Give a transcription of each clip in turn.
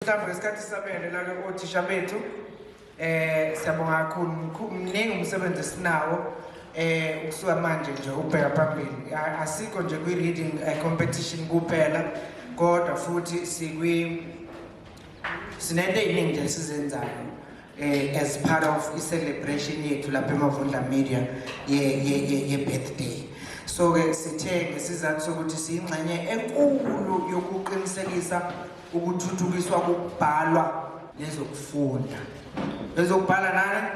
Mhlawumbe ngesikhathi sabele lake othisha bethu eh siyabonga kakhulu mningi umsebenzi esinawo eh ukusuka manje nje ubheka phambili asikho nje kwi reading eh, competition kuphela kodwa futhi sikwi sinento eyiningi nje esizenzayo eh as part of i celebration yethu lapha eMavundla Media ye ye ye birthday so ke sithe ngesizathu sokuthi siyingxenye enkulu yokuqinisekisa ukuthuthukiswa kokubhalwa nezokufunda ezokubhala nani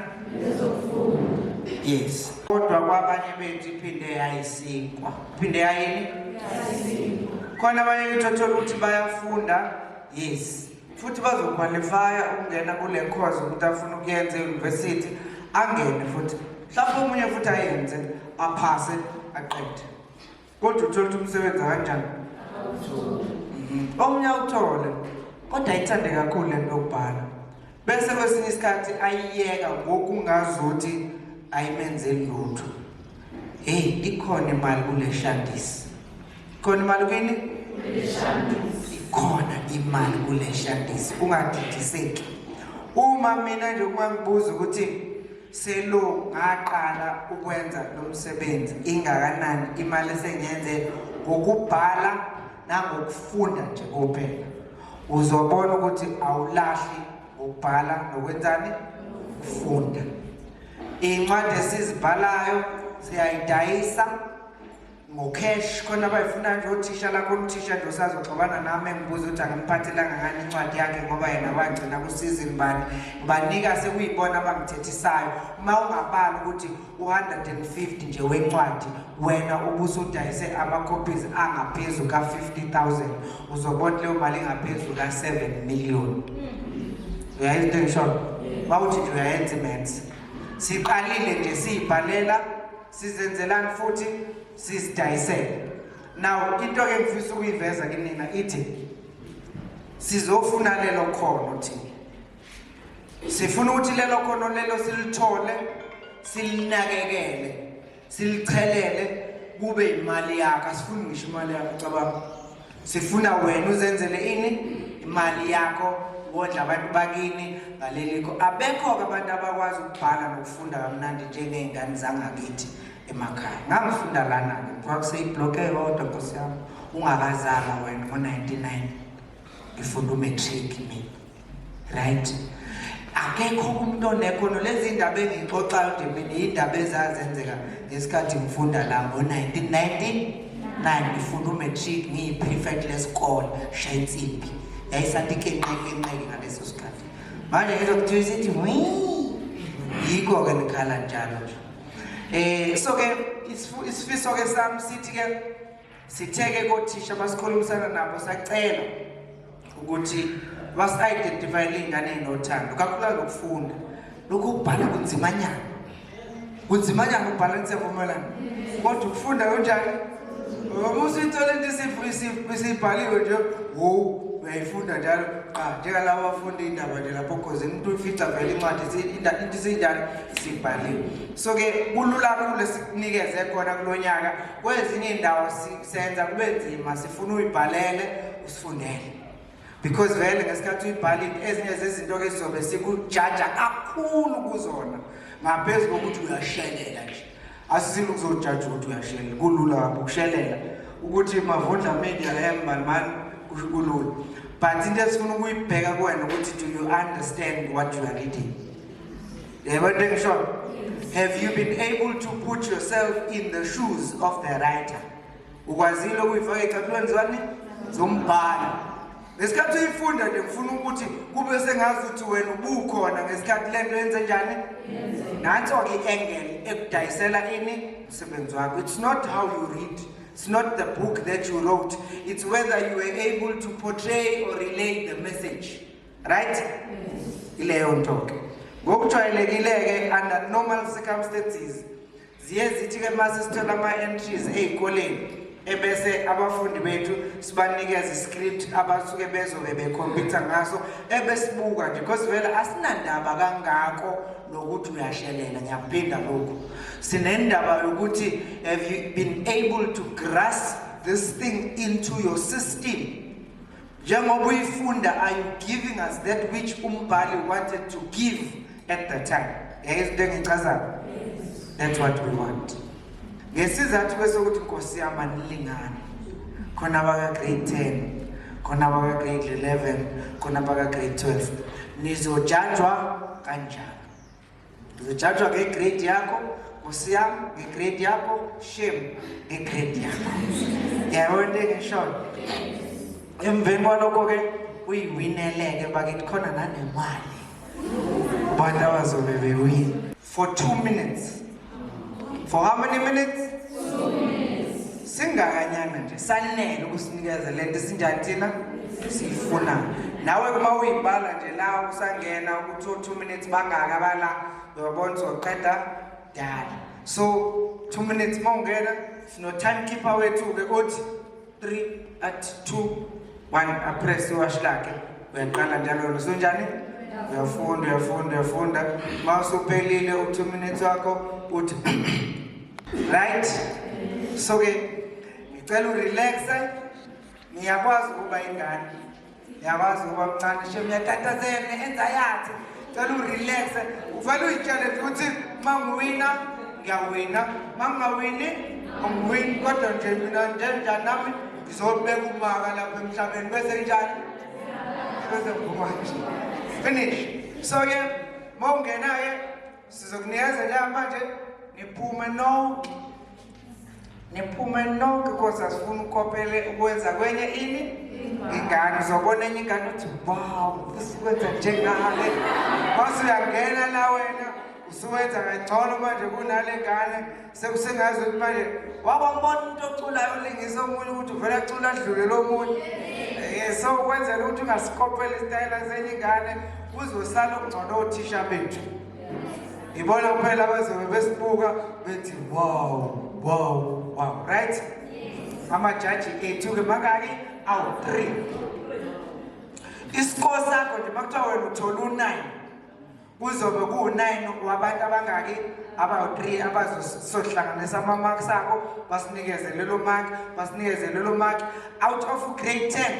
ezokufunda yes kodwa kwabanye bethu iphinde yayisinkwa iphinde yayini yayisinkwa khona abanye kuthothole ukuthi bayafunda yes futhi bazokhwalifaya ukungena kule course ukuthi afuna ukuyenza e-university angene futhi mhlawumbe omunye futhi ayenze aphase aqede kodwa uthole ukuthi umsebenzi kanjani omunye awuthole kodwa ayithande kakhulu le nto yokubhala bese kwesinye isikhathi ayiyeka ngokungazuthi ayimenzeli lutho heyi ikhona imali kule shandisi khona imali kwini ikhona imali kule shandisi ungadidiseki uma mina nje uma ngibuza ukuthi Selo ngaqala ukwenza lo msebenzi ingakanani imali esengenze ngokubhala nangokufunda nje kuphela. Uzobona ukuthi awulahli ngokubhala nokwenzani ukufunda. Iy'ncwadi esizibhalayo siyayidayisa ngocash khona abayifuna nje othisha lakho umthisha nje usazoxabana nami engibuza ukuthi angimphathelanga ngani incwadi yakhe ngoba yena wagcina kusizini bani ngibanika sekuyibona abangithethisayo uma ungabali ukuthi u-150 nje wencwadi wena ubusudayise ama-copies angaphezu ka-50 000 uzobona leyo mali ingaphezu ka-7 million hmm. uyayenza into engishoyo wawuthi nje uyayenza imense siqalile nje siyibhalela sizenzelani futhi sizidayisele now into ke ngifisa ukuyiveza kinina ithi sizofuna lelo khono thina sifuna ukuthi lelo khono lelo silithole silinakekele silichelele kube imali yakho asifuni ngisho imali yakho cabanga sifuna wena uzenzele ini imali yakho wondla abantu bakini ngalelikho abekho-ke abantu abakwazi ukubhala nokufunda kamnandi njengey'ngane zangakithi emakhaya ngangifunda lana-ke kuthiwa kuseyibhlokhe yodwa nkosi yami ungakazalwa wena ngo-ninety-nine ngifunda umatric mina right akekho umuntu onekhono lezi ndaba engixoxayo nje mina yindaba ezazenzeka ngesikhathi ngifunda la ngo-1999 ngifunda umatric ngiyi-prefect lesikole shaya insimbi yayisanti ikenqekenqeke ngaleso sikhathi manje ngizwa kuthiwa isithi yikho-ke ngikhala njalo nje um so-ke isifiso-ke sami sithi-ke Sitheke kothisha basikhulumisana nabo sacela ukuthi basi-identifyele iy'ngane ey'nothando kakhulukazi lokufunda lokhu ukubhala kunzimanyana kunzimanyana ukubhala nisevumelana kodwa ukufunda kunjani umusithole into isibhaliwe nje wo uyayifunda njalo qa njengalabo bafunda iy'ndaba nje lapho khoze umuntu uyifica vele incwadi into isiyinjani sibhaliwe so-ke kulula kakhulu esikunikeze khona kulo nyaka kwezinye indawo senza kube nzima sifuna uyibhalele usifundele because vele ngesikhathi uyibhalile ezinye zezinto ke sizobe sikujaja kakhulu kuzona ngaphezu kokuthi uyashelela nje asisile ukuzojaja ukuthi uyashelela kulula kabi ukushelela ukuthi mavundla media embalmani kusho kulula but into esifuna ukuyibheka kuwena ukuthi do you understand what you are reading Never take short. Have you been able to put yourself in the shoes of the writer? Ukwazile ukuyifaka ecathulweni zani zombhalo. Ngesikhathi uyifunda nje ngifuna ukuthi kube sengazi ukuthi wena ubukhona ngesikhathi lento yenze njani? Nanso ke engel ekudayisela ini umsebenzi wakho. It's not how you read. It's not the book that you wrote. It's whether you were able to portray or relay the message. right ileyo nto ke ngokujwayelekile-ke under normal circumstances ziye zithi-ke uma sesithola ama-entries ey'koleni ebese abafundi bethu sibanikeza iscript abasuke bezobe bekhompyutha ngaso ebesibuka nje because vele asinandaba kangako nokuthi uyashelela ngiyakuphinda lokhu sinendaba yokuthi have you been able to grasp this thing into your system njengoba uyifunda are you giving us that which umbhali wanted to give at the time yayizwa into engichazayo that's what we want ngesizathu kwesokuthi nkosi yami anilingani khona abaka-grade 10 khona abaka-grade 11 khona abaka-grade 12 nizojanjwa kanjani Ngizojajwa ngegrade yakho nkosi yam ngegrade yakho shame ngegrade yakho yabo into engishoyo emveni kwalokho ke uyiwineleke bakithi khona nanemali abantu abazobe bewini for two minutes for how many minutes singakanyana nje sanele ukusinikeza lento esinjani thina siyifuna nawe kuma uyibhala nje la usangena ukuthi o 2 minutes bangaka bala uyabona uzoqeda dala so 2 minutes mawungena sino timekeeper wethu ke othi 3 at 2 1 apress iwashi lakhe uyaqala njalo lona sunjani uyafunda uyafunda uyafunda uma usuphelile u-two minutes wakho uthi right so-ke ngicela urelaxe ngiyakwazi ukuba ingane Yawazi uba mncane shem uyatatazela ne-enza yakhe cela urelaxe uvele uyitshele nje ukuthi uma ngiwina ngiyawina uma ngingawini angiwini kodwa nje mina njenjani nami ngizobeka umaka lapha emhlabeni bese njani bese ngivuma nje finish so-ke uma ungena-ke Sizokunikeza ke manje niphume nonke. Niphume nonke kodwa sifuna ukopele ukwenza kwenye ini ingane uzobona enye ingane uthi wow usikwenza njengale base uyangena la wena usuwenza kangcono manje kunale ngane sekusengazi ukuthi manje wabambona umuntu oculayo olingisa omunye ukuthi uvele acula adlule lo munye eh, so ukwenzela ukuthi ungasikopela isitayela senye ingane kuzosala okungcono othisha bethu ngibona kuphela bazobe besibuka bethi wow wow wow right amajaji ethu-ke makaki awu-three isiko sakho nje uma kuthiwa wena uthola u-nine kuzobe kuwu-nine wabantu abangaki abawu-three abazohlanganisa ama-marks abo basinikeze lelo mark basinikeze lelo mark out of grade ten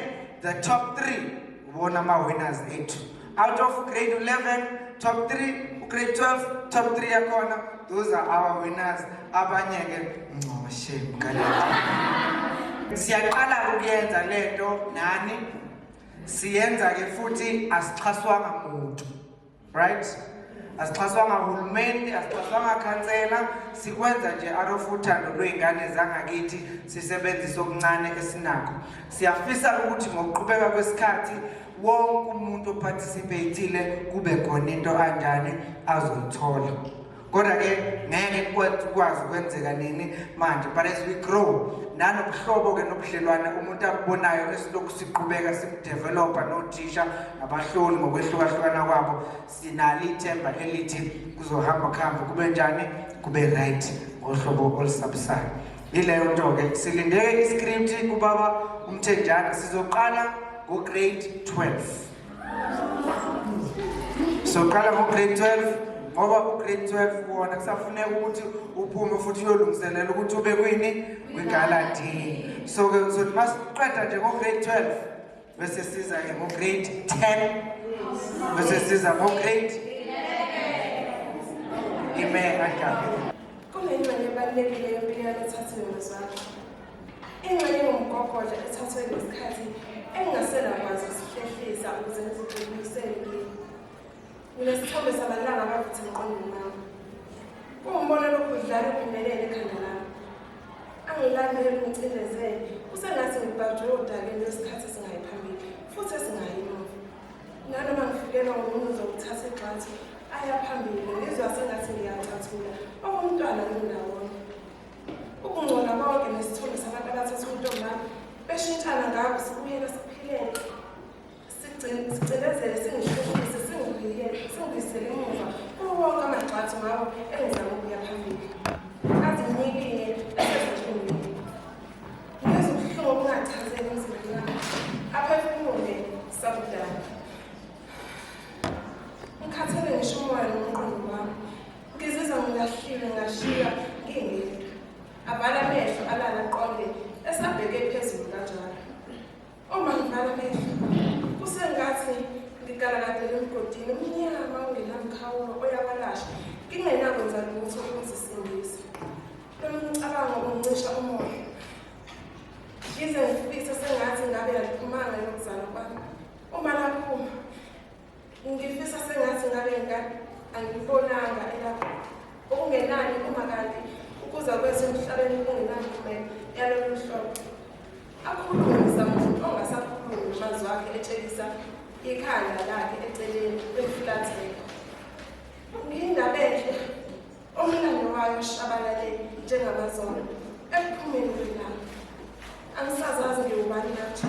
the top three ubona ama-winners ethu out of grade eleven top three ugrade twelve top three yakhona those are our winners abanye-ke ncoshe mqalaa siyaqala ukuyenza le nto nani siyenza ke futhi asixhaswanga muntu right asixhaswanga hulumeni asixhaswanga khansela sikwenza nje out of uthando lwey'ngane zangakithi sisebenzise okuncane esinakho siyafisa ukuthi ngokuqhubeka kwesikhathi wonke umuntu ophathisipheyithile kube khona into anjani azoyithola kodwa ke ngeke kukwazi ukwenzeka nini manje but as we grow nanobuhlobo ke nobudlelwane umuntu abubonayo esilokhu siqhubeka sibudevelopa nothisha nabahloli ngokwehlukahlukana kwabo sinalo ithemba elithi kuzohamba kuhambe kube njani kube right ngohlobo olusabisayo yileyo nto ke silindeke iscript kubaba umthenjana sizoqala ngo-grade 12 soqala ngo-grade 12 ngoba u-grade 12 kuwona kusafuneka ukuthi uphume futhi uyolungiselela ukuthi ube kwini kwigaladini so-ke uzothi uma siqeda nje ngo-grade 12 bese siza-ke ngo-grade 10 bese siza ngo-grade ime kadabe kunengxenye ebalulekile yempilo yalothathiwe ngezwakhe Ingxenye yomgogodla ethathwe ngesikhathi engingasenakwazi ukusihlehliza ukuze ngizigxilisele kimi. Nginesithombe sabantwana abavuthi emqondweni wami. Kuwumbono lokudlala ubumelele ekhanda lami. Angilandele ngicindezele, kusengathi ngibhajwe odakeni lwesikhathi esingayi phambili futhi esingayi emuva. Nanoma ngifikelwa ngumuntu uzokuthatha igxathi aya phambili ngizwa sengathi ngiyacathula okumntwana ngindawo Ukungcola konke nesithombe sabantu abathatha untombami beshintshana ngabo sibuyela siphilele sicinezele singihluphise singibuyele singibuyisele emuva kuwo wonke amagxathu ngawo engizama ukuya phambili azinyikile esezinhlungwini ngizwa ubuhlungu obungachazeki emzimbeni wami aphefumule sakudala ngikhathele ngisho umoya nomqondo wami Ngizizwa ngilahliwe ngashiya ngingedwa. Avala amehlo alala aqonde esabheke phezulu kanjalo. Uma ngivala amehlo kusengathi ngigalakadele emgodini omnyama ongenamkhawulo oyakalasha ngingenakwenza lutho ukuzisindisa. Lo mcabango uncisha umoya. Ngize ngifise sengathi ngabe yaliphumanga yokuzalwa kwami. Uma laphuma Ngifisa sengathi ngabe ngikade angibonanga elapho okungenani uma kanti ukuza kwethu emhlabeni kungenankumela yalolu hlobo akhulumisa muntu ongasakhulumi amazwi akhe etshelisa ikhanda lakhe eceleni kwemfulatheko ngingabenhle omlando wayo shabalale njengamazolo ekuphumeni kwelanga angisazazi ngiwubani nathi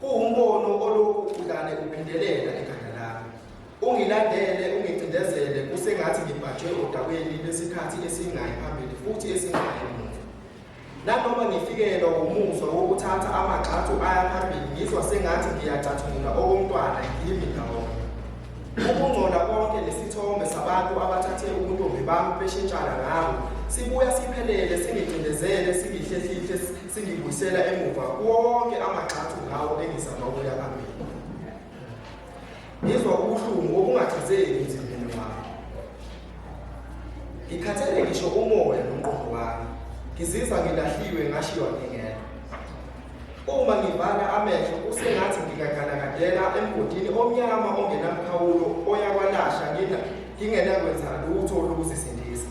Kuwumbono olokhu udlale uphindelela ekhanda lami. Ungilandele ungicindezele kusengathi ngibhajwe odabeni lwesikhathi esingayi phambili futhi esingayi emuva. Nanoma ngifikelwa wumuzwa wokuthatha amagxathu aya phambili ngizwa sengathi ngiyacathula okomntwana ngimi ndawonye. Ukungcola konke nesithombe sabantu abathathe ubuntombi bami beshintshana ngabo sibuya siphelele singicindezele singihlehlile singibuyisela emuva wonke amagxathu ngawo engizama ukuya phambili ngizwa ubuhlungu obungachazeki emzimbeni wami ngikhathele ngisho umoya nomqondo wami ngizizwa ngilahliwe ngashiywa ngingedwa uma ngivala amehlo kusengathi ngikagalakadela emgodini omnyama ongenamkhawulo oyakwalasha ngingenakwenza lutho lokuzisindisa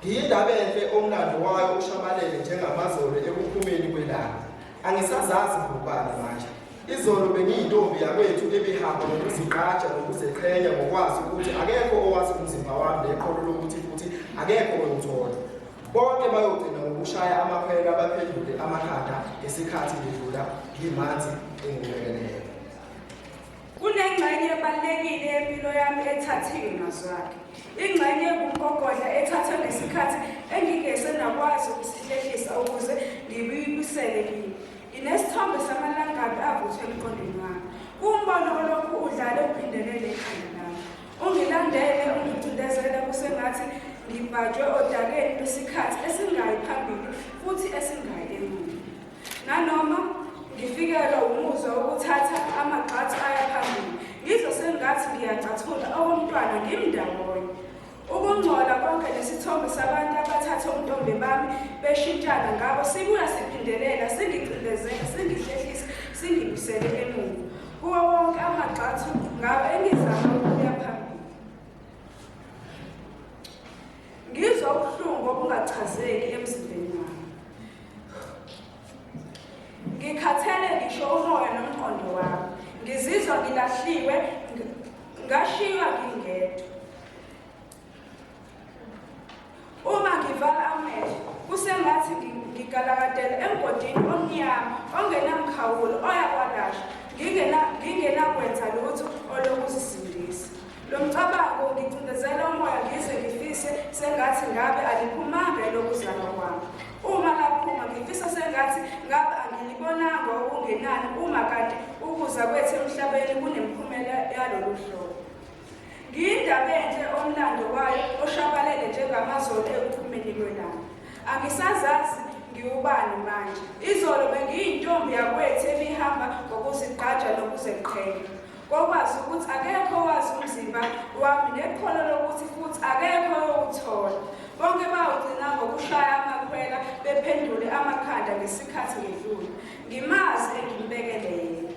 Ngiyindaba enhle omlando wayo ushabalele njengamazolo ekuphumeni kwelanga. Angisazazi ngokubala manje. Izolo bengiyintombi yakwethu ebihamba ngokuzigqaja nokuzeqhenya ngokwazi ukuthi akekho owazi umzimba wami neqolo lokuthi futhi akekho oyothola. Bonke bayogcina ngokushaya amakhwelo abaphendule amakhanda ngesikhathi ngidlula ngimanzi engilekelele. Kunengxenye ebalulekile yempilo yami ethathiwe mazwakhe. Ingxenye engumgogodla ethathwe ngesikhathi engingese nakwazi ukusihlehlisa ukuze ngibuyibusele kimi. Nginesithombe samalangabi avuthwe emqondweni wami. Kuwumbono olokhu udlale uphindelele ekhanda lami. Ungilandele ungicindezele kusengathi ngibhajwe odakeni lwesikhathi esingayi phambili futhi esingayi emuva. Nanoma ngifikelwa umuzwa wokuthatha amagxathu aya phambili, ngizwe sengathi ngiyacathula okomntwana ngimndawonye. Ukungcola konke nesithombe sabantu abathathe ubuntombi bami beshintshana ngabo sibuya siphindelela singicindezela singihlehlisa singibusele emuva kuwo wonke amagxathu ngabo engizama Ngizwa ubuhlungu obungachazeki emzimbeni wami. Ngikhathele ngisho umoya nomqondo wami. Ngizizwa ngilahliwe, ngashiywa ngingedwa. Uma ngivala amehlo, kusengathi ngigalakadela emgodini omnyama ongenamkhawulo oyakwalashwa ngingenakwenza lutho olokuzisindisa. Lo mcabango ungicindezela umoya ngize ngifise sengathi ngabe aliphumanga elokuzalwa kwami. Uma laphuma ngifisa sengathi ngabe angilibonanga okungenani uma kanti ukuza kwethu emhlabeni kunemiphumela yalolu hlobo. Ngiyindaba enhle omlando wayo oshabalele njengamazolo ekuphumeni kwelanga. Angisazazi ngiwubani manje. Izolo bengiyintombi yakwethu ebihamba ngokuzigqaja nokuzeqhenya. Kokwazi ukuthi akekho owazi umzimba wami nekhono lokuthi futhi akekho owuthola. Bonke bawugcina ngokushaya amakhwela bephendule amakhanda ngesikhathi ngedlule. Ngimazi engimbekele yena.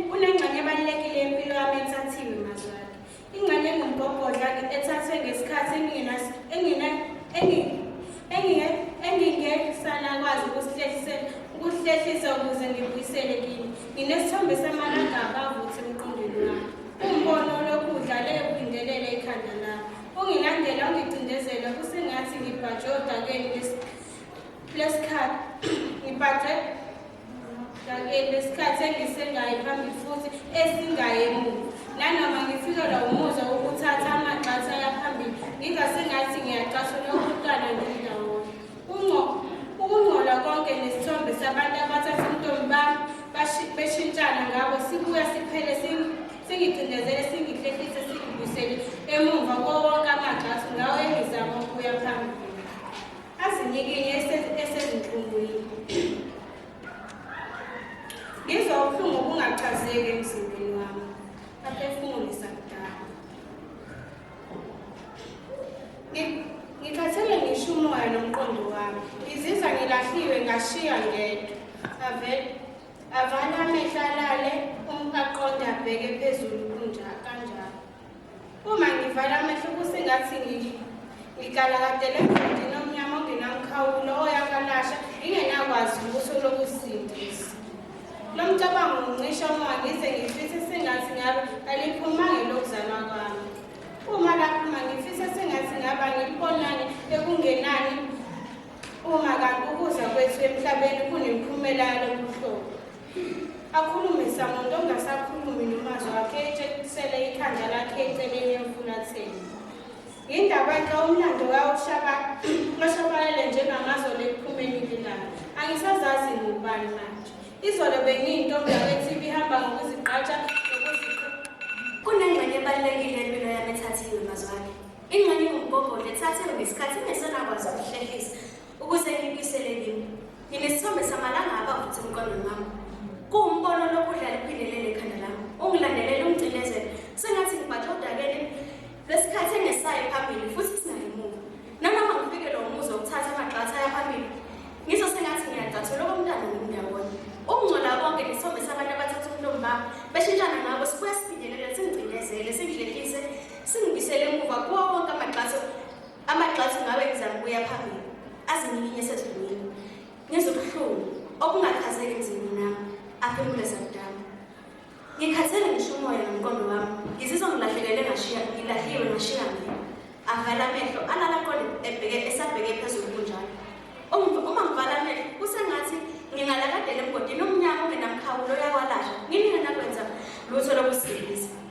Kunengxenye ebalulekile yempilo yami ethathiwe mazwakhe. Ingxenye engumgogodla-ke ethathwe ngesikhathi engingesanakwazi ukuhlehlisela ukuze ngibuyisele kini. Nginesithombe samalanga abavuthi emqondweni wami. Umbono olokhu udlale ekulindelele ikhanda lami. Ungilandela ungicindezela kusengathi ngibhajwe odakeni lesikhathi. Ngibhajwe Ngakeni lesikhathi engisengayi phambili futhi esingaye emuva. Nanoma ngifilelwa umuzwa wokuthatha amagxatha yaphambili, ngingase ngathi ngiyacashula ukuhlukana ngindawonye. Ukungcola konke nesithombe sabantu abathatha intombi bami beshintshana ngabo sibuya siphele singicindezele singihlehlise singibuyisele emuva kowonke amagxathu ngawo engizama ukuya phambili. Azinyikinye esezinhlungwini. Ngizwa ubuhlungu obungachazeki emzimbeni wami. Aphefumulisa kudala. Ngikhathele ngisho umoya nomqondo wami. Ngizizwa ngilahliwe ngashiya ngedwa. Avele avala amehla alale umqaqonda abheke phezulu kunjalo. Uma ngivala amehlo kusengathi ngigalakadele emgodini omnyama ongenamkhawulo oyakalasha ngingenakwazi ukuthi lokusindisa. Lo mcabango ngicishe umoya ngize ngifise sengathi ngabe aliphumanga lokuzalwa kwami. Uma laphuma ngifise sengathi ngaba ngilibonani ekungenani uma kanti ukuza kwethu emhlabeni kunemiphumela yalobuhlobo. Akhulume Samuntu ongasakhulumi nomazwi wakhe etshengisele ikhanda lakhe eceleni emfulatheni. Yindaba ke umlando kawushaba oshabalele njengamazolo ekuphumeni kwelanga. Angisazazi ngubani manje. Izolo bengiyintombazane ethi ibihamba ngokuzigqaja nokuzikho. Kunengxenye ebalulekile empilo yami ethathiwe mazwane. Ingxenye ngumgogodla ethathiwe ngesikhathi ingesenakwazi ukuhlehisa. Ukuze ngibuyisele kimi, nginesithombe samalanga abavutha emqondweni wami. Kuwumbono lokhu udlala iphindelele ekhanda lami. Ungilandelele ungigcinezele. Sengathi ngibhaje odakeni lwesikhathi engesayo phambili futhi singayi emuva. Nanoma ngifikelwe umuzwa wokuthatha amagxatha aya phambili, ngizwe sengathi ngiyagcathula okomntana ngindawonye. Ukungcola konke nesithombe sabantu abathatha umlomo bami, beshintshana ngabo sibuya siphindelele singigcinezele, singidlelise, singibuyisele emuva kuwo wonke amagxatho Amagxathu ngabe ngizama ukuya phambili azinyikinye esedlulwini ngizwa ubuhlungu obungachazeki emzimbeni nami aphemule sakudama ngikhathele ngisho umoya nomqondo wami ngizizwa ngilahlekele ngashiya ngilahliwe ngashiya mina avala amehlo alala aqonde ebheke esabheke phezulu kunjalo uma ngivala amehlo kusengathi ngingalakadela emgodini omnyama ongenamkhawulo oyawalasha nginike nakwenza lutho lokusilisa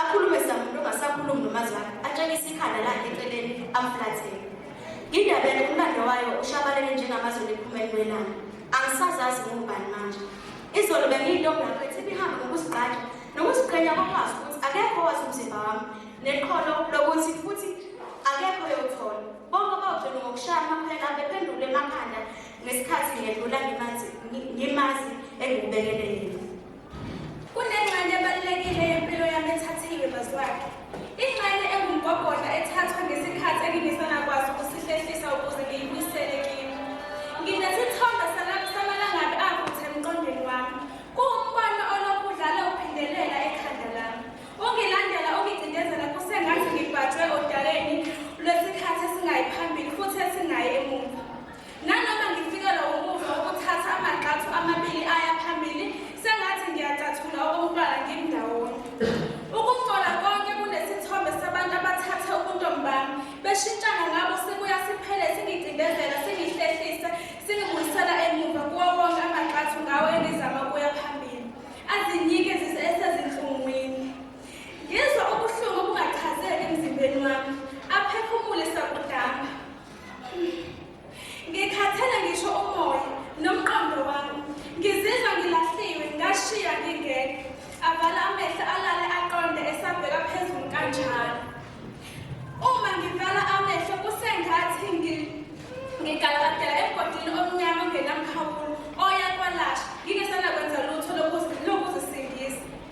Akhulume samuntu ongasakhulumi nomazwana atshengise ikhanda lakhe eceleni amflathele. Indaba yakhe umlando wayo ushabalele njengamazulu ephuma elwelana. Angisazazi ngubani manje. Izolo bengiyintombi yakho ethi ibihambe ngokuzigqaja nokuziqhenya kokwazi ukuthi akekho owazi umzimba wami neqholo lokuthi futhi akekho yothola. Bonke bawugcina ngokushaya amaphela bephendule emakhanda ngesikhathi ngedlula ngimazi ngimazi engibekele yena. Kunengxenye ebalulekile yempilo yami ethathiwe bazwakhe. Ingxenye engumgogodla ethathwe ngesikhathi engingesanakwazi ukusihlehlisa ukuze ngiyibuyisele kimi. Nginesithombe salapho samalangabi avuthe emqondweni wami. Kuwumbono olokhu udlala uphindelela ekhanda lami. Ungilandela ungicindezela kusengathi ngibhajwe odakeni lwesikhathi esingayi phambili futhi esingayi emuva. Nanoma ngifikelwa wumuzwa wokuthatha amagxathu amabili aya phambili, sengathi ngiyacathula okokuqala ngimndawonye. Ukungcola konke kunesithombe sabantu abathathe ubuntombi bami, beshintshana ngabo sibuya siphele singicindezela, singihlehlisa, singibuyisela emuva kuwo wonke amagxathu ngawo engizama ukuya phambili. Azinyike zise esezinhlungwini. Ngizwa ubuhlungu obungachazeki emzimbeni wami, aphefumule sakudamba. Ngikhathele ngisho umoya nomqondo wami. Ngizizwa ngilahliwe ngashiya ngingeke. Avala amehlo alale aqonde esabheka phezulu kanjalo. Uma ngivala amehlo kusengathi ngigalakadela emgodini omnyama ongenamkhawulo oya kwalasha.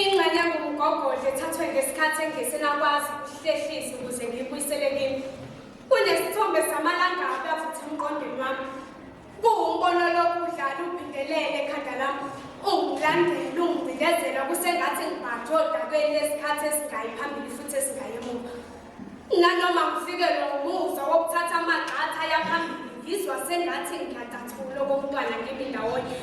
Ingxenye engumgogodla ethathwe ngesikhathi engesela kwazi ukuhlehlisa ukuze ngiyibuyisele kimi. Kunesithombe samalangabi avutha emqondweni wami. Kuwumbono lokhu udlala ubhingelele ekhanda lami. Ungilandela, ungibhindezela kusengathi ngibhanjwe odakweni lesikhathi esingayi phambili futhi esingayi emuva. Nanoma ngifikelwa umuzwa wokuthatha amagxatha yaphambili ngizwa sengathi ngiyadatshula okomntwana kimi ndawonye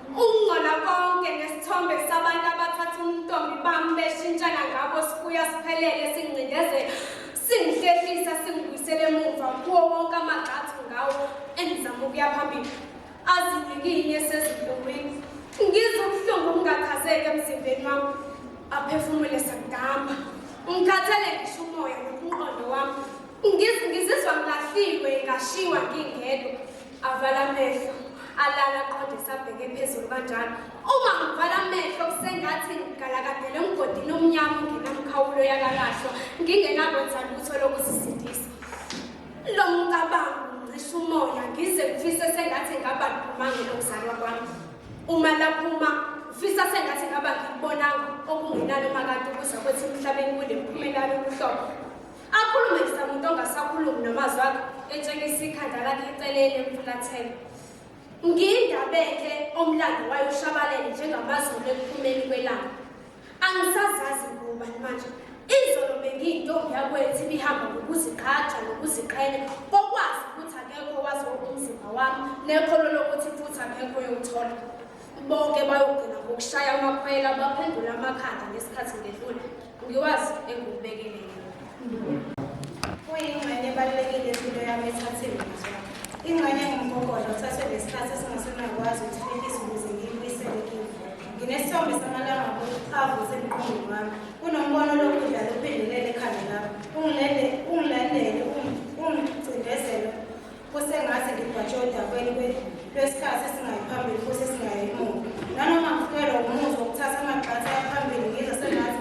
ukungcola konke nesithombe sabantu abathatha umntombi bami beshintshana ngabo sibuya siphelele singcindezela singihlehlisa singibuyisele emuva kuwo wonke amagxathu ngawo engizama ukuya phambili azinikine sezinkungwini ngizwe ubuhlungu obungakhazeki emzimbeni wami aphefumule sagamba ngikhathele ngisho umoya nokunqondo wami ngizizwa ngilahliwe ngashiwa ngingedwa avala amehlo alala aqondisa abheke phezulu kanjalo uma ngivala amehlo kusengathi ngigalakadele emgodini omnyama ongenamkhawulo yakalahlwa ngingenakwenza lutho lokuzisindisa Lo mcabango ungcisha umoya ngize ngifise sengathi ngaba ngiphumange nokuzalwa kwami. Uma laphuma ngifisa sengathi ngaba ngikubonanga okungenani uma kanti kuza kwethi emhlabeni kunemiphumela yokuhlobo. Akhulume ngiza muntu ongasakhulumi namazwi akhe etshengisa ikhanda lakhe eceleni emfulathele. Ngindabeke omlando wayoshabalele njengamazulu ekuphumeni kwelanga. Angisazazi ngubani manje. Izolo bengiyintombi yakwethu ibihamba ngokuzigqaja nokuziqhenya kokwazi ukuthi akekho owazi umzimba wami nekholo lokuthi futhi akekho oyowuthola. Bonke bayogcina ngokushaya amakhwela baphendula amakhanda ngesikhathi ngedlula. Ngiwazi engikubekele yena. Kuyingxenye ebalulekile impilo yami ethathe imizwa. Ingxenye ngumgogodla uthathwe ngesikhathi esingasenakwazi ukuthelekisa ukuze ngiyibuyisele kimi. Nginesithombe samalanga avuse emqondweni wami. Kunombono lokudla luphendelele ekhanda lami. Ungilele, ungilandele, ungi- ungicindezele kusengathi ngigwatshe odakweni kwe- lwesikhathi esingayi phambili futhi esingayi emuva. Nanoma ngifikelwa umuzwa wokuthatha amagxatha aphambili ngizwe sengathi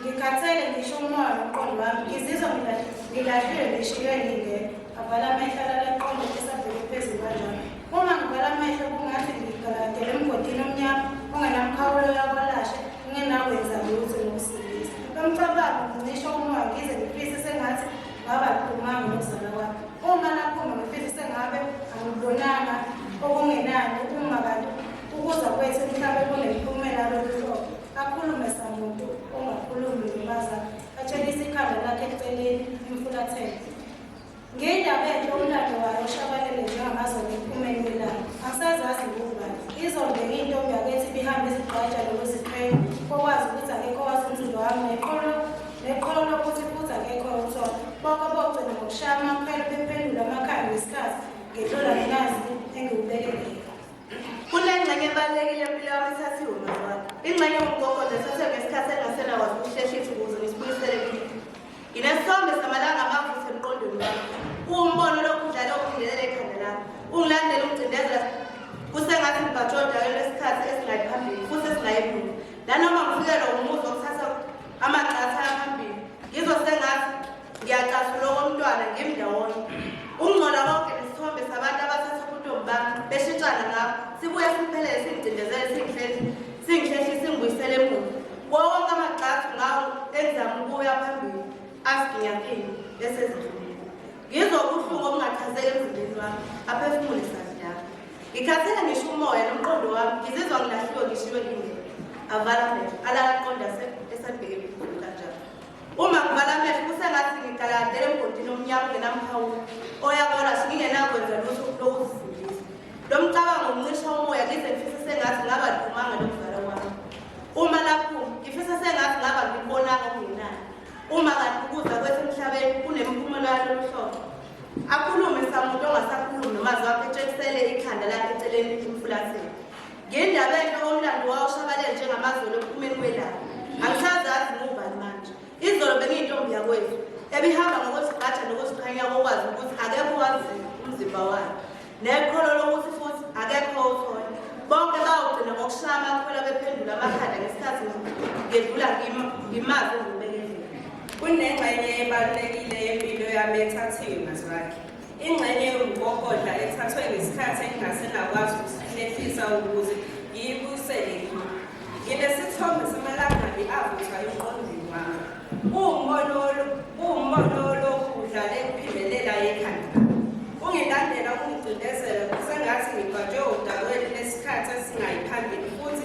Ngikhathele ngisho umoya nomqondo wami ngizizwa ngilahlile ngishiywe ngingekho avala amehlo alala qonde esabheke phezulu kanjalo uma ngivala amehlo kungathi ngigaladele emgodini omnyama ongenamkhawulo yakwalashe ngingenakwenza lutho nokusilisa lomcabango ngicisha umoya ngize ngifise sengathi ngaba lukhulumanga nokuzala kwami uma nakhuma ngifise sengabe angibonanga okungenani uma kanti ukuza kwethu emhlabeni kunemiphumela lolu hlobo Akhulume samuntu ongakhulumi ngimaza atshelisa ikhanda lakhe eceleni imfulathele. Ngiyindaba enhle umlando wayo oshabalele njengamazolo ephumeni kwelanga. Angisazazi ngubani. Izonde ngiyintombi yakethi ibihambe izigqaja nokuziqhenya kokwazi ukuthi akekho wazi umzundo wami neqolo neqolo lokuthi futhi akekho umsono. Bonke bogcina ngokushaya amakhwelo bephendula amakhaya ngesikhathi ngedlula nginazi engiwubelekile. Kunengxenye ebalulekile empilo yami ethathiwe umzali. Ingxenye yomgogodla ethathiwe ngesikhathi engasena kwazi ukuhleshisa ukuze ngisibuyisele kimi. Nginesithombe samalanga amavutha emqondweni wami. Kuwumbono lokhu udlale ukungelela ekhanda lami. Ungilandela ungicindezela kusengathi ngibhajwe odakeni lwesikhathi esingayi phambili futhi esingayi emuva. Nanoma ngifikelwa umuzwa Ngiyacasula okomntwana ngimi ndawonye. Ungcola konke nesithombe sabantu abathatha ubuntombi bami beshintshana ngabo. Sibuye siphelele singicindezele singihlehle singihlehle singibuyisele emuva. Kuwo wonke amagxathu ngawo engizama ukuya phambili asiginyakile bese zidlulile. Ngizwa ubuhlungu obungachazeki emzimbeni wami aphefumule sadlala. Ngikhathele ngisho umoya nomqondo wami ngizizwa ngilahliwe ngishiwe ngingeke. Avala amehlo alala aqonda esabheke kanjalo. Uma ngivala amehlo kusengathi ngigalandele emgodini omnyama ongenamkhawulo oyakola singingenakwenza lutho lokuzisindisa. Lo mcabango uncisha umoya ngize ngifise sengathi ngaba liphumanga lomzala wami. Uma lapho ngifisa sengathi ngaba ngibonanga okungenayo. Uma kanti ukuza kwethu emhlabeni kunemiphumela yalolu hlobo. Akhulume samuntu ongasakhulumi nomazwi wakhe etshengisele ikhanda lakhe eceleni emfulathini. Ngendaba enhle omlando wawo ushabalele njengamazolo ekuphumeni kwelanga. Angisazazi ngubani manje. Izolo bengiyintombi yakwethu ebihamba ngokuzigqaja nokuziqhenya kokwazi ukuthi akekho wazi umzimba wayo. Nekholo lokuthi futhi akekho othola. Bonke bawugcina ngokushaya amakhwela bephendula amakhanda ngesikhathi ngedlula ngimazi ngibekele. Kunengxenye ebalulekile yempilo yami ethathiwe mazwakhe. Ingxenye yomgogodla ethathwe ngesikhathi engingase ngakwazi ukusihlehisa ukuze ngiyibuyisele kimi. Nginesithombe samalangabi avuthwa emqondweni wami. Kuwumbono kuwumbono olokhu udlale kuphindelela yekhanda. Ungilandela ungicindezela kusengathi ngibhajwe odakweni lesikhathi esingayiphambili futhi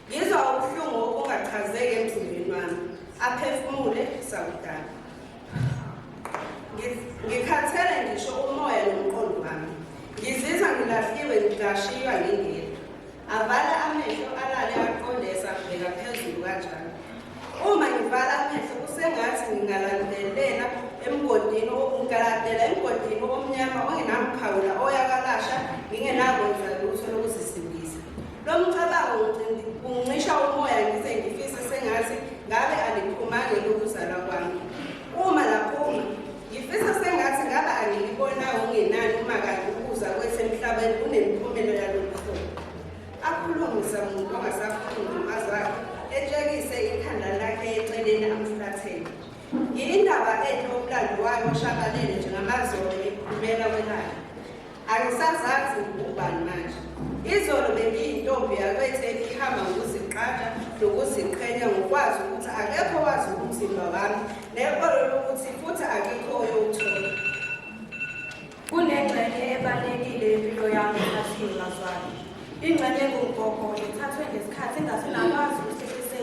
Ngizwa ubuhlungu obungachazeki emzimbeni wami, aphefumule sakudala. Ngikhathele ngisho umoya nomqondo wami. Ngizizwa ngilahliwe ngidashiywa ngingedwa. Avala amehlo alale aqonde esabheka phezulu kanjalo. Uma ngivala amehlo kusengathi ngingalandelela emgodini ngigaladela emgodini omnyama ongenamkhawula oyakalasha ngingenakwenza lutho lokuzisa Lo mcabango uncisha umoya ngize ngifise sengathi ngabe aliphumanga lokuzalwa kwami. Uma laphuma, ngifisa sengathi ngabe angilibonanga ungenani uma kanti ukuza kwethu emhlabeni kunemiphumela yalolu hlobo. Akhulumisa muntu ongasakhulumi umazi wakhe, etshekise ikhanda lakhe eceleni amfulathele. Ngiyindaba enhle umlando wayo oshabalele njengamazolo ekhulumela kwelakhe. Angisazazi ngubani manje. Izolo bengiyintombi yakwetheni ihamba ngokuziqaja nokuziqhenya ngokwazi ukuthi akekho wazi umzimba wami nekolo lokuthi futhi akekho oyowuthola. Kunengxenye ebalulekile yempilo yami athiwe ngazwani. Ingxenye engugogo ithathwe ngesikhathi engasenakwazi ukusehlise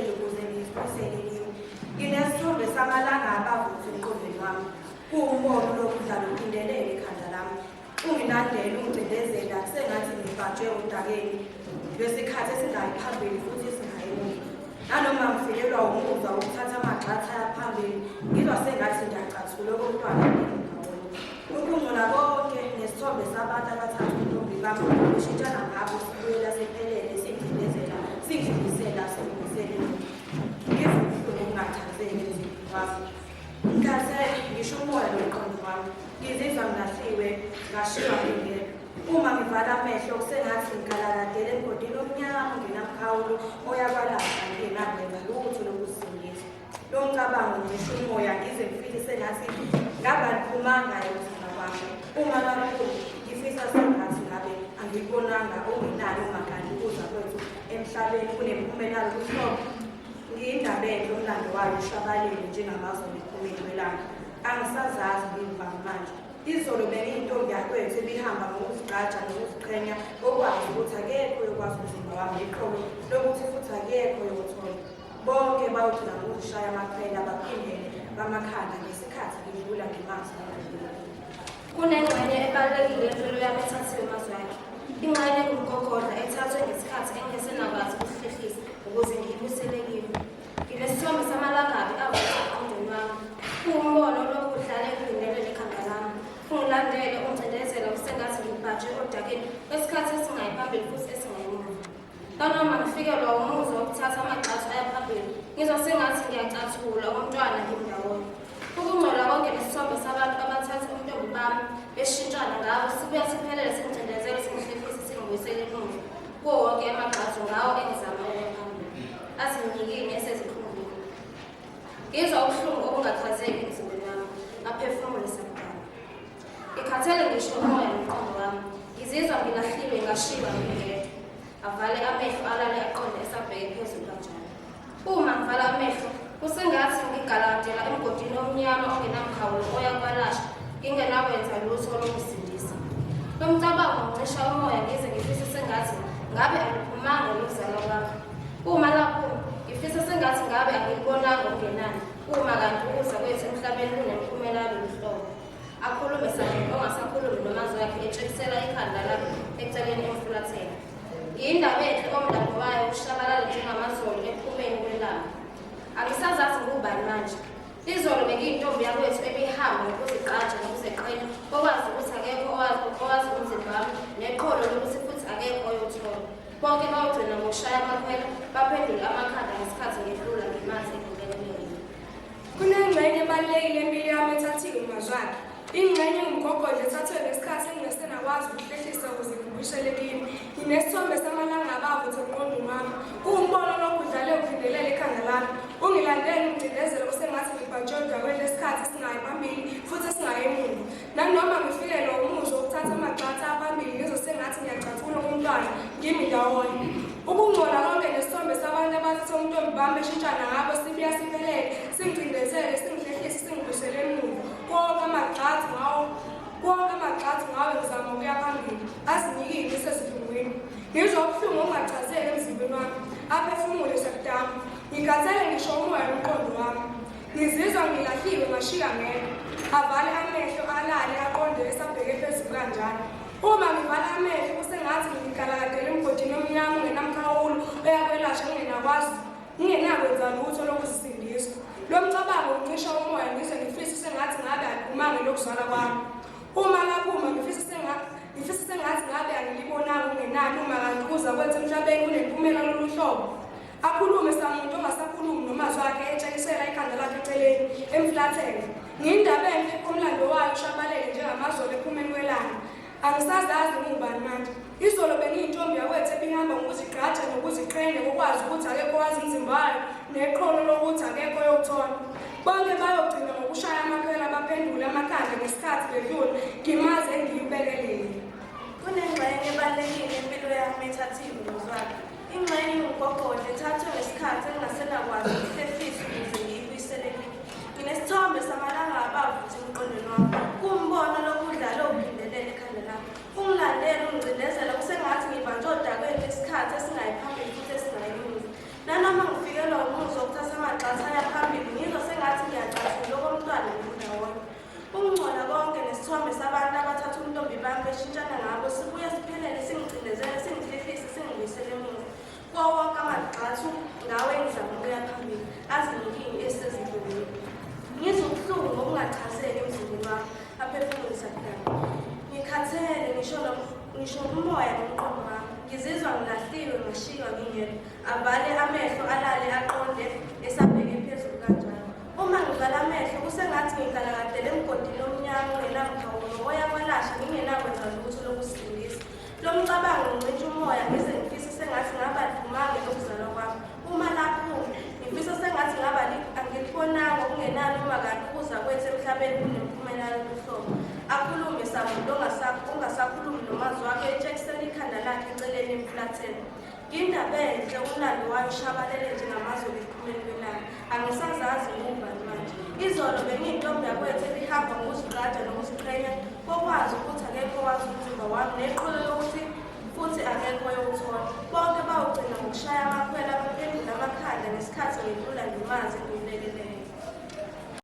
Kuwumbono lo mdlalo uphindelele ikhanda lami. Ungilandele ungicindezela sengathi ngibhajwe udakeni lwesikhathi esingayi phambili futhi esingayi emuva. Nanoma ngifikelwa wumuzwa wokuthatha amagxatha aphambili ngizwa sengathi ngiyacathula okomntwana ngingawona. Ukungcola konke nesithombe sabantu abathatha untombi bami ushintshana ngabo sibuyela sephelele singcindezela singidlulisela singidlulisele ngivubuhlungu ungathatheki emzini wakho. Ngikhathele, ngisho umoya nomqondo wami. Ngizizwa ngilahliwe, ngashiywa ngingedwa. Uma ngivala amehlo kusengathi ngigalaladele emgodini omnyama ongenamkhawulo oyakwalapha ngingenakwenza lutho lokusingiswa. Lo mcabango ngisho umoya ngize ngifike sengathi ngabaliphumanga yokuzala kwami. Uma kakhulu ngifisa sengathi ngabe angikubonanga okungenani ungakani ukuza kwethu emhlabeni kunempumelalo kuhlobo Ngiyindaba enhle umlando wayo ushabalele njengamazwe emiphumela welanga. Angisazazi ngiyivanga manje. Izolo bengiyintombi yakwethu ebihamba ngokuzigqaja nokuziqhenya ngokwazi ukuthi akekho yokwazi umzimba wami iqolo lokuthi futhi akekho yokuthola. Bonke bawugcina ngokuzishaya amakhwela baphindele bamakhanda ngesikhathi ngidlula ngimazi Kunengxenye ebalulekile empilo yami ethathiwe amazwi akhe. Ingxenye engumgogodla ethathwe ngesikhathi engesenakwazi ukuhlehlisa ukuze ngiyibusele kimi. Nginesithombe samalangabi avutha emqondweni wami. Kuwumbono olokhu udlale ekudingelwe likhanda lami. Ungilandele, ungcindezela usengathi ngibhajwe odakeni kwesikhathi esingayi phambili futhi esingayi emuva. Nanoma ngifikelwa umuzwa wokuthatha amagxathu aya phambili, ngizwa sengathi ngiyacathula umntwana ngimndawonye. Ukungcola konke nesithombe sabantu abathatha ubuntombi bami beshintshana ngabo sibuya siphelele singicindezele singihlifisa singibuyisele emuva kuwo wonke amagxathu ngawo engizama ukuya phambili azinyikini esezikhungile. Ngizwa ubuhlungu obungachazeki emzimbeni wami ngaphefumula sakudala. Ngikhathele ngisho umoya nomqondo wami. Ngizizwa ngilahlilwe ngashiywa ngingedwa. Avale amehlo alale aqonde esabheke phezulu kanjalo. Uma ngivala amehlo kusengathi ngigaladela emgodini omnyama ongenamkhawulo oya kwalasha ngingenakwenza lutho lokusindisa. Lo mcabango ngicisha umoya ngize ngifise sengathi ngabe angiphumanga luzalo lwakho. Uma lapho ngifisa sengathi ngabe angilibonanga okungenani uma kanti ukuza kwethu emhlabeni kunemiphumela yalolu hlobo. akhulume sangene ongasakhulumi namazi wakhe etshekisela ikhanda lakhe eceleni emfulathela yindaba enhle omdabo wayo ushabalala njengamazolo ephumeni kwelanga angisazazi ngubani manje izolo bekiyintombi yakwethu ebihamba ngokuzigqaja nokuzeqela okwazi ukuthi akekho owazi umzimba wami neqholo lokuthi futhi akekho oyothola bonke bawugcina ngokushaya amakhwela baphendule amakhanda ngesikhathi ngedlula ngemanzi Kunengxenye ebalulekile empilo yami ethathiwe umazwakhe. Ingxenye ngumgogodla ethathwe ngesikhathi engingasenakwazi ukuhlehlisa ukuze ngibuyishele kimi. Nginesithombe samalanga abavuthe emqondweni wami. Kuwumbono lokhu udlale uvindelela ekhanda lami. Ungilandele umcindezelo osengathi ngibhajwe udakweni lesikhathi esingayi phambili futhi esingayi emuva. Nanoma ngifikelwe umuzwa ukuthatha amagxatha abambili ngizwe sengathi ngiyacathula umntwana ngimi ndawonye. Ukungcola konke nesithombe sabantu abathatha umntombi bami eshintshana ngabo sibuya siphelele singicindezele singihlehlise singibusele emuva konke amagxatha ngawo konke amagxatha ngawo ngizama ukuya phambili azinikile ngisesidlungwini ngizwa ubuhlungu ongachazeki emzimbeni wami aphefumule sakudama ngikhathele ngisho umoya umqondo wami Ngizizwa ngilahliwe ngashiya ngeke. Avale amehlo alale aqonde esabheke phezulu kanjalo. Uma ngivala amehlo kusengathi ngikaladele emgodini omnyama ungenamkhawulo oyakwelashwa ngingenakwazi ngingenakwenza lutho lokuzisindisa. Lo mcabango uncisha umoya ngize ngifise sengathi ngabe angikumanga lokuzala kwami. Uma laphuma ngifise sengathi ngifise sengathi ngabe angilibonanga ungenani uma kanti kuza kwenza emhlabeni kunempumela lolu hlobo. Akhulume samuntu ongasakhulumi nomazwi akhe etshelisela ikhanda lakhe eceleni emflathele. Ngiyindaba enhle umlando wayo ushabalele njengamazolo ephumeni kwelanga. Angisazazi ngubani manje. Izolo bengiyintombi yakwethu ebihamba ngokuzigqaja nokuziqhenya ngokwazi ukuthi akekho wazi umzimba wayo neqholo lokuthi akekho yokuthola. Bonke bayogcina ngokushaya amakhwela baphendule amakhanda ngesikhathi bedlula ngimaze engiyibekele. Kunengxenye ebalulekile empilo yami ethathiwe ngozwakhe. Ingxenye yomgogodla ithathwe ngesikhathi engingasenakwazi ukuhlefisa ukuze ngiyibuyisele kimi. Nginesithombe samalanga abavuthi emqondweni wami. Kuwumbono lokudlala owuphindelele ekhanda lami. Ungilandele ungicindezela kusengathi ngibanjwe odakweni lesikhathi esingayi phambili futhi esingayi emuva. Nanoma ngifikelwa umuzwa wokuthatha amagxatha aya phambili ngizwa sengathi ngiyacasula okomntwana ngindawonye. Ukungcola konke nesithombe sabantu abathatha ubuntombi bami beshintshana ngabo sibuye siphelele singicindezele singihlehlise singibuyisele emuva kuwo wonke amagxathu ngawo engizama ukuya phambili azinikini esezindluleni ngizwa ubuhlungu ngokungachazeki emzimbeni wami aphefumulisa kudala ngikhathele ngisho nom- ngisho umoya nomqondo wami ngizizwa ngilahliwe ngashiywa ngingedwa avale amehlo alale aqonde esabheke phezulu kanjalo Uma ngivala amehlo kusengathi ngigalakadele emgodini omnyama ongenamkhawulo ngoya kwalasha ngingenakwenza lutho lokusindisa. Lo mcabango ngincintsha umoya ngize ngifise sengathi ngaba dumange lokuzalwa kwami. Uma laphume ngifisa sengathi ngaba angilibonanga okungenani uma kanti ukuza kwethu emhlabeni kunemphumela yobuhlobo. Akhulume samuntu ongasakhulumi nomazi wakhe etshekisela ikhanda lakhe eceleni emfulatheni. Indaba enhle umlando wayo ushabalele njengamazwe liphumeni kwelanga. Angisazazi ngumva manje. Izolo bengiyintombi yakwethu ebihamba ngokuziqaja nokuziqhenya kokwazi ukuthi akekho wazi umzimba wami neqholo lokuthi futhi akekho yowuthola. Bonke bawugcina ngokushaya amakhwela baphendula amakhanda ngesikhathi ngidlula ngimazi ngimlekeleyo.